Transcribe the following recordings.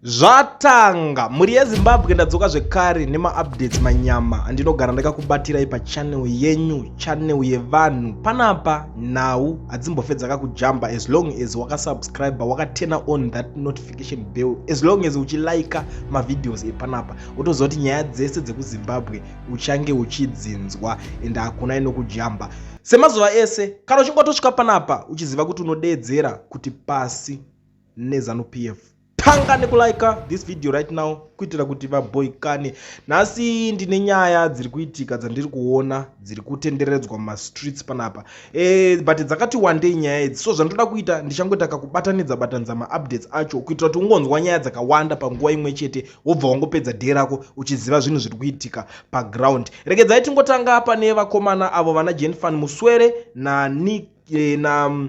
zvatanga mhuri yezimbabwe ndadzoka zvekare nemaupdates manyama andinogara ndakakubatirai pachanel yenyu chanel yevanhu panapa nhau hadzimbofedzaka kujamba as long as wakasubscribe wakatena on that notification bell as long as uchilaika mavideos epanapa wotoziva kuti nyaya dzese dzekuzimbabwe uchange uchidzinzwa and hakuna inokujamba semazuva ese kana uchingotosvika panapa uchiziva kuti unodeedzera kuti pasi nezanu pf tanga nekulike this video right now kuitira kuti vaboikane nhasi ndine nyaya dziri kuitika dzandiri kuona dziri kutenderedzwa mumastreets panapa e, but dzakati wandei nyaya idzi so zvandoda kuita ndichangoita kakubatanidza batanidza maupdates acho kuitira kuti ungonzwa nyaya dzakawanda panguva imwe chete wobva wangopedza dee rako uchiziva zvinhu zviri kuitika paground regedzai tingotanga pane vakomana avo vana jenfan muswere nani e, na, na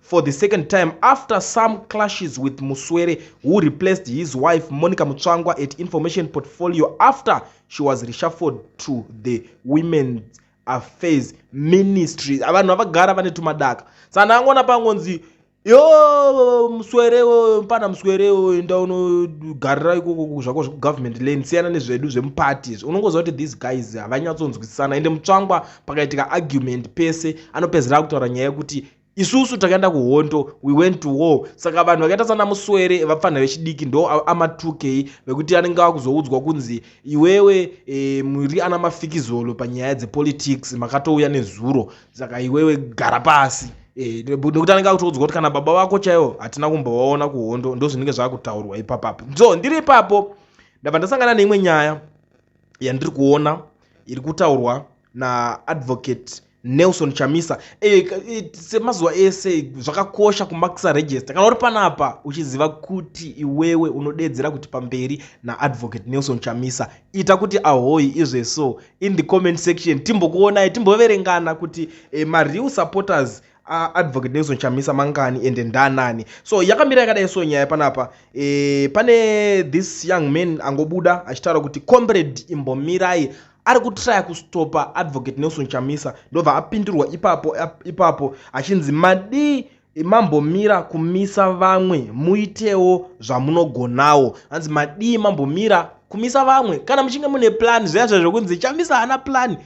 for the second time after some clashes with muswere who replaced his wife monica mutsvangwa at information portfolio after she was reshuffled to the women's affairs ministry vanhu havagara vane tumadaka sana angoona pangonzi yo muswere pana muswere enda unogarira ikoko zvako zvekugovernment lane siyana nezvedu zvemuparties unongoziva kuti these guys havanyatsonzwisisana ende mutsvangwa pakaitika argument pese anopedzera kutaura nyaya yekuti isusu takaenda kuhondo we went to war saka vanhu vakaita sana muswere vapfanha vechidiki ndo amatukei vekuti anenge akuzoudzwa kunzi iwewe e, muri ana mafikizolo panyaya dzepolitics makatouya nezuro saka iwewe gara pasi eh, nekuti anenge akutoudzwa kuti kana baba vako chaivo hatina kumbovaona kuhondo ndo zvinenge zvakutaurwa ipapapo so ndiri ipapo ndabva ndasangana neimwe nyaya yandiri kuona iri kutaurwa naadvocate nelson chamisa eh, eh, semazuva ese zvakakosha kumakisa register kana uri panapa uchiziva kuti iwewe unodeedzera kuti pamberi naadvocate nelson chamisa ita kuti ahoyi izve so in the comment section timbokuonai timboverengana kuti eh, mareal supporters aadvocate nelson chamisa mangani ende ndanani so yakamira yakadai so nyaya panapa e, pane this young man angobuda achitaura kuti comrade imbomirai ari kutraya kustopa advocate nelson chamisa ndobva apindurwa ipapo ipapo achinzi madii mambomira kumisa vamwe muitewo zvamunogonawo hanzi madii mambomira kumisa vamwe kana muchinge mune plan zviya zva zvekunzi chamisa haana plan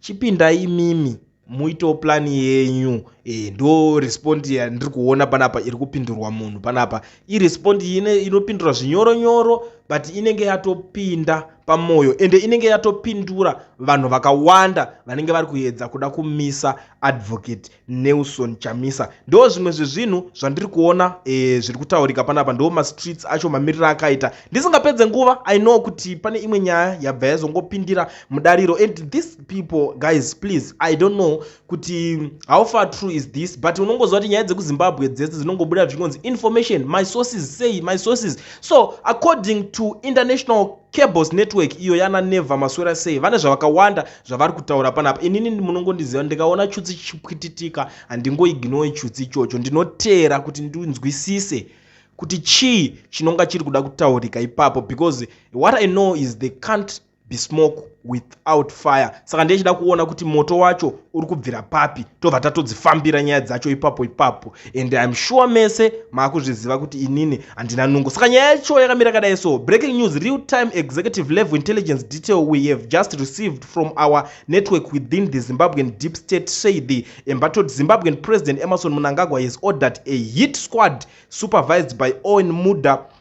chipinda imimi muitewo plan yenyu e, ndo respond yandiri kuona panapa iri kupindurwa munhu panapa irespond inopindura zvinyoro nyoro but inenge yatopinda pamwoyo ende inenge yatopindura vanhu vakawanda vanenge vari kuedza kuda kumisa advocate nelson chamisa ndo zvimwe zvezvinhu zvandiri kuona e, zviri kutaurika panapa ndo mastreets acho mamiriro akaita ndisingapedze nguva i know kuti pane imwe nyaya yabva yazongopindira mudariro and this people guys please i don't know kuti how far true is this but unongoziva kuti nyaya dzekuzimbabwe dzese dzinongobuda zvichingonzi information my sources say my sources so according to international cables network iyo yana never maswera sei vane zvavakawanda zvavari kutaura panapa inini munongondiziva ndikaona chutsi chichipwititika handingoiginowe chutsi ichocho ndinoteera kuti ndinzwisise kuti chii chinonga chiri kuda kutaurika ipapo because what i know is the country be smoke without fire saka ndechida kuona kuti moto wacho uri kubvira papi tobva tatodzifambira nyaya dzacho ipapo ipapo and im sure mese maakuzviziva kuti inini handina nungo saka nyaya yacho yakamira kadai so breaking news real time executive level intelligence detail we have just received from our network within the zimbabwean deep state say the embattled zimbabwean president emerson munangagwa has ordered a hit squad supervised by owen muda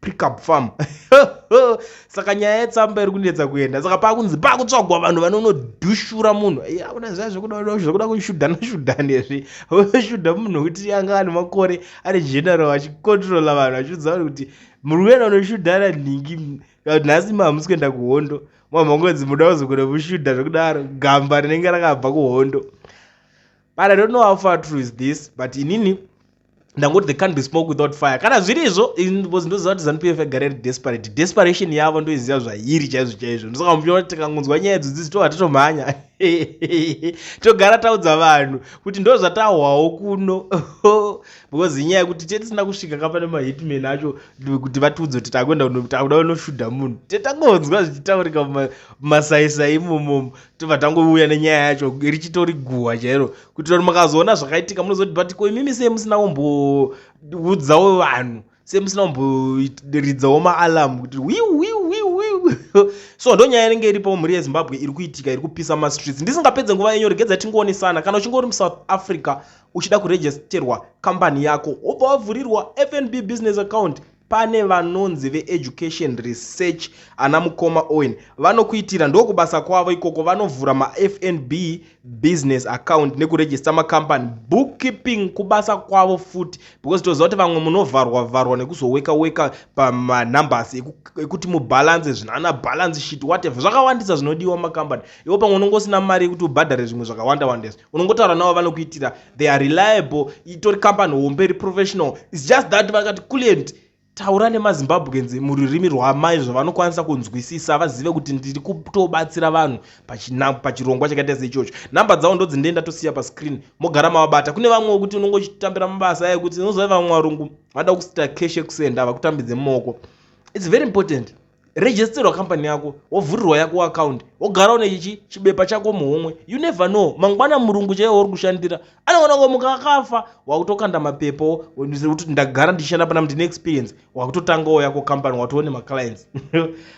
pickup farm saka nyaya yetsamba iri kunetsa kuenda saka pakunzi pakutsvagwa vanhu vanonodushura munhu akuna zviya zvekuda kushudhana shudhana izvi oshudha munhu wekuti anga ane makore ari general achicontrola vanhu achiudza vanhu kuti muri kuenda kunoshudhana nhingi nhasi mahamusi kuenda kuhondo mamangonzi muda kuzogona kushudha zvekudaro gamba rinenge rakabva kuhondo but i don't know how far true is this but inini ndangoti they can't be smoke without fire kana zviri izvo because ndoziva kuti zanu pf yagara iri desperate desperation yavo ndoiziva zvairi chaizvo chaizvo ndosaka muchiona kuti tikangonzwa nyaya idzo dzidzi tohwa titomhanya togara taudza vanhu kuti ndo zvatahwawo kuno because inyaya yekuti te tisina kusvika kapane mahitman acho kuti vatiudze kuti takuenda kunotakuda vanoshuda munhu te tangonzwa zvichitaurika mumasaisai imomomo tobva tangouya nenyaya yacho richitori guhwa chairo kuitira kuti makazoona zvakaitika munozoti but ko imimi sei musina kumboudzawo vanhu sei musina kumboridzawo maalamu kuti wiwiwiwi so ndo nyaya inenge iripo mhuri yezimbabwe iri kuitika iri kupisa mastreets ndisingapedze nguva yenyu regedza tingoonesana kana uchinge uri musouth africa uchida kuregisterwa kambani yako wobva wavhurirwa fnb business account Pane vanonzi veEducation Research ana mukoma Owen vanokuitira ndokubasa kwavo ikoko vanovhura maFNB business account nekuregister macompany bookkeeping kubasa kwavo futi because toziva kuti vamwe munovharwa vharwa nekuzoweka weka pamanumbers ekuti mubalance zvinana balance sheet whatever zvakawandisa zvinodiwa mumacompany iwo pamwe unongosina mari yekuti ubhadhare zvimwe zvakawanda wandesa unongotaura navo vanokuitira they are reliable itori company hombe iri professional its just that vakati client taura nemazimbabweans mururimi rwamai zvavanokwanisa kunzwisisa vazive kuti ndiri kutobatsira vanhu pachirongwa chakaita seichocho nhamba dzavo ndodzindiye ndatosiya pascreen mogara mavabata kune vamwe wekuti unonge uchitambira mabasa ayo kuti unozova vamwe varungu vada kusita cash ekusenda vakutambidze mumaoko its very important registerwa company yako wovhurirwa yako account wogara une chichi chibepa chako muhomwe you never know mangwana murungu chaiye wauri kushandira anoona ngo muka akafa wakutokanda mapepo kuti ndagara ndichishanda pana ndine experience wakutotangawo yako company watoone maclients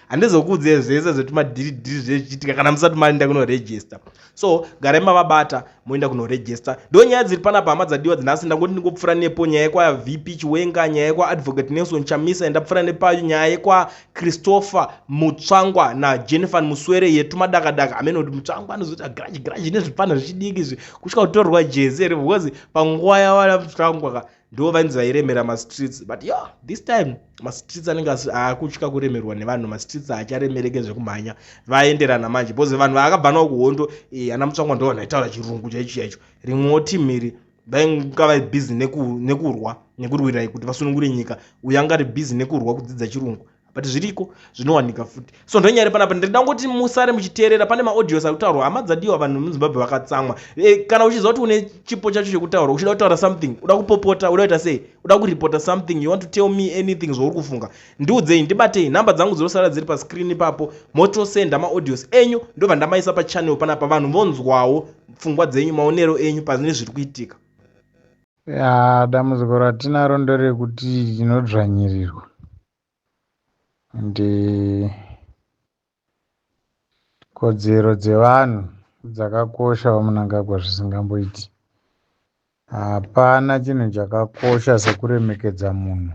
handizokuudzei zvese zvetimadhiridhiri zvechichitika kana musati maenda kunoregister so garai mavabata moenda kunoregista ndo nyaya dziri panapa hama dzadiwa dzinhasi ndangoti ndingopfura nepo nyaya yekwa vp chiwenga nyaya yekwa advocate nelson chamisa yandapfura nepayo nyaya yekwa christopher mutsvangwa najennifer muswere yetu madakadaka hameno kuti mutsvangwa anozoita grudge grudge nezvipana zvichidiki izvi kusvika kutorwa jezi here because panguva yavana mutsvangwa ka ndivo vainzi vairemera mastreets but yo this time mastreets anenge akutya kuremerwa nevanhu mastreets haacharemereke zvekumhanya vaenderana manje because vanhu vaakabva nawo kuhondo eh, ana mutsvangwa ndo vanhu vaitaura chirungu chaicho chaicho rimwewo team iri vainga vari busy nekurwa nekurwirai kuti vasunungure nyika uyo anga ari busy nekurwa kudzidza chirungu but zviriko zvinowanika futi so ndonyari panapa ndiri dangoti musare muchiteerera pane maaudios ari kutaurwa hama dzadiwa vanhu vemuzimbabwe vakatsamwa e, kana uchiziva kuti une chipo chacho chekutaura uchida kutaura something uda kupopota uda kuita sei uda kuripota something you want to tell me anything zvauri kufunga ndiudzei ndibatei nhamba dzangu dzinosara dziri pascreen ipapo motosenda maaudios enyu ndobva ndamaisa pachannel panapa vanhu vonzwawo pfungwa dzenyu maonero enyu pane zviri kuitika Yaa dambudziko ratinaro nderekuti tinodzvanyirirwa and eh, kodzero dzevanhu dzakakosha vaMunangagwa zvisingamboiti. Hapana chinhu chakakosha sekuremekedza munhu.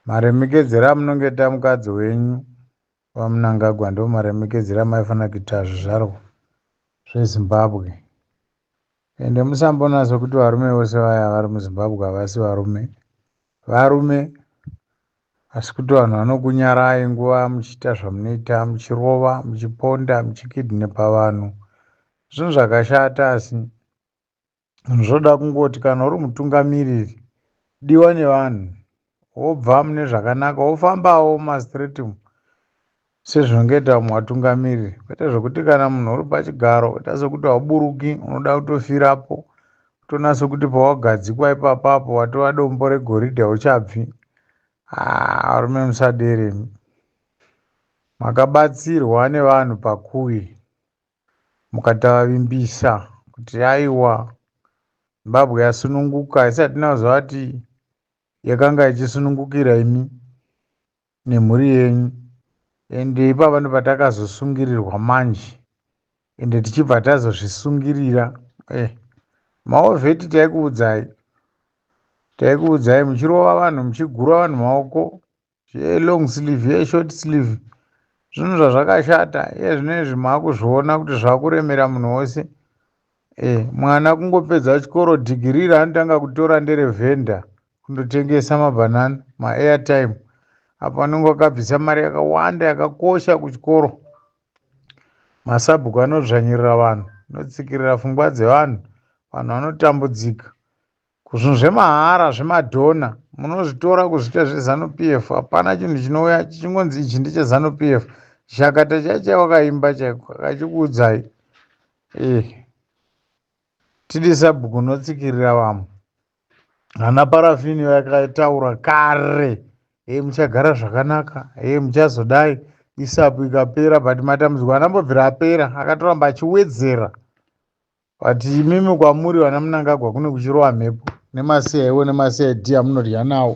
Maremekedzero amunongoita mukadzi wenyu VaMnangagwa ndivo maremekedzi ramaifanira kuita zvizvarwa zveZimbabwe. Ende musambonatso kuti varume vose vaya vari muZimbabwe havasi varume. Varume asi kuti vanhu vanokunyarai nguva muchiita zvamunoita muchirova, muchiponda, muchikidnepa vanhu. Zvinhu zvakashata asi. zvoda kungoti kana uri mutungamiriri diwa nevanhu wobva mune zvakanaka wofambawo mumastreet umu sezvinenge ita vamwe vatungamiriri kwete zvekuti kana munhu uri pachigaro oita sekuti hauburuki unoda kutofirapo kutonasa kuti pawagadzikwa ipapa apo watova dombo regoridhe hauchabvi ah, arume musaderemi makabatsirwa nevanhu pakuwi mukatovavimbisa kuti aiwa Zimbabwe yasununguka haisati tinazwa kuti yakanga ichisunungukira imi nemhuri yenyu ende ipapa ndopatakazosungirirwa manje ende tichibva tazozvisungirira eh, maovheti taikuudzai taikuudzai muchirova vanhu muchigura vanhu maoko zveyelong sleeve yeshort sleeve zvinhu zvazvakashata iye zvinoizvi maakuzviona kuti zvakuremera munhu wose e mwana kungopedza chikoro dhigiri raanotanga kutora nderevhenda kundotengesa mabhanana maairtime apo anenge akabvisa mari yakawanda yakakosha kuchikoro masabhuku anodzvanyirira vanhu anotsikirira fungwa dzevanhu vanhu vanotambudzika Ko zvinhu zvemahara zvemadhona munozvitora kuzviita zvezanu PF hapana chinhu chinouya chichingonzi ichi ndechezanu PF chakata chaiye chawakaimba chaiko akachikuudzai eh tidi sabhuku unotsikirira vamwe ana parafini vakataura kare e muchagara zvakanaka e muchazodai isapu ikapera but matambudziko anambobvira apera akatoramba achiwedzera But imimi kwamuri vana Mnangagwa kune kuchirowa mhepo nemaCIO nemaCID amunodya nawo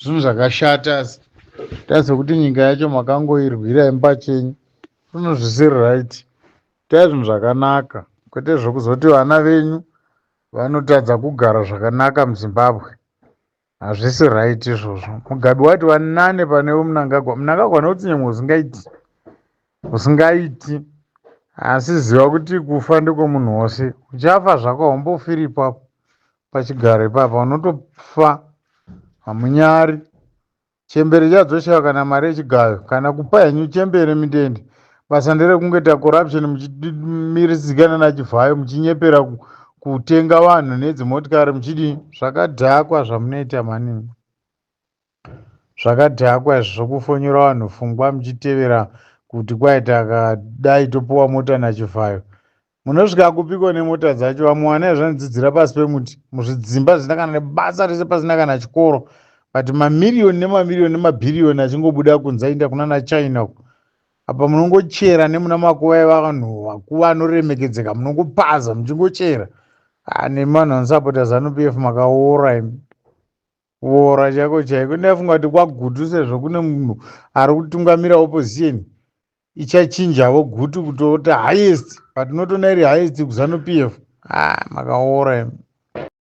zvinhu zvakashata asi tarise kuti nyika yacho makangoirwira imi pachenyu zvinhu zvisiri right itai zvinhu zvakanaka kwete zvekuzoti vana venyu vanotadza kugara zvakanaka muZimbabwe. hazvisi right izvozvo mugabe wati vanane pane vemnangagwa mnangagwa anoti nyangwe usingaiti usingaiti asi ziva kuti kufa ndekwemunhu wose uchafa zvako haumbofiri ipapo pachigaro ipapa unotofa hamunyari chembere chadzosheva kana mari yechigayo kana kupa henyu chembere midende basa nderekungoita corruption muchimirizikana nachivhayo muchinyepera kutenga vanhu nedzimotikari muchidi zvakadhakwa zvamunoita mani zvakadhakwa izvi zvokufonyora vanhu fungwa muchitevera kuti kwaita kadai topuwa mota nachivhayo Munosvika kupiko nemota dzacho vamwe vana zvanidzidzira pasi pemuti muzvidzimba zvisina kana nebasa rese pasina kana chikoro but mamiriyoni nemamiriyoni nemabhiriyoni achingobuda kunze achiinda kuna nachina uko apa munongochera nemuna makuva evanhu vakuva anoremekedzeka munongopaza muchingochera ah, nemanhu anosapota zanupf makaora imi kuora chaiko chaiko ndafunga kuti kwagutu sezvo kune munhu ari kutungamira opposition ichachinjavo gutu kutota highest but not ona iri highest kuzanu pf ah makaora imi